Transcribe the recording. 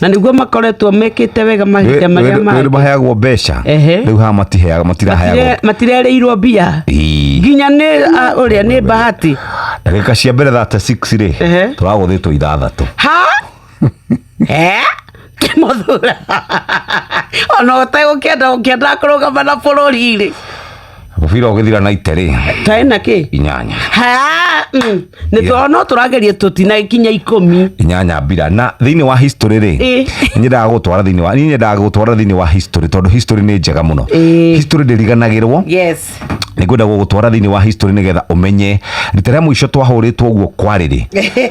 na niguo makoretwo mekite wega mahinda maria mangĩ maheagwo mbeca Ehe. riu haha matiheaga matiraheagwo Matire- matirereirwo mbia Ii. nginya nä å rä a nä bahati ndagĩka cia mbere thate rĩ Ehe. tũragũthĩtwo ithathatũ ha Eh? kä må thura ona å tegå kä enda å kä enda kå rå gama na bå rå ri rä Mũbira ũgĩthira na ite rĩ. Taĩ na kĩ? Inyanya. Ha, mm, nĩ tondũ no tũrageria tũtinakinya ikũmi. Inyanya mbira. Na thĩinĩ wa history rĩ, Ĩ. nyendaga gũtwara thĩinĩ wa, niĩ nyendaga gũtwara thĩinĩ wa history tondũ history nĩ njega mũno. Ĩ. History ndĩriganagĩrwo. Yes. Nĩ ngwenda gũgũtwara thĩinĩ wa history nĩgetha ũmenye rita rĩa mũico twahũrĩtwo ũguo kwarĩ rĩ.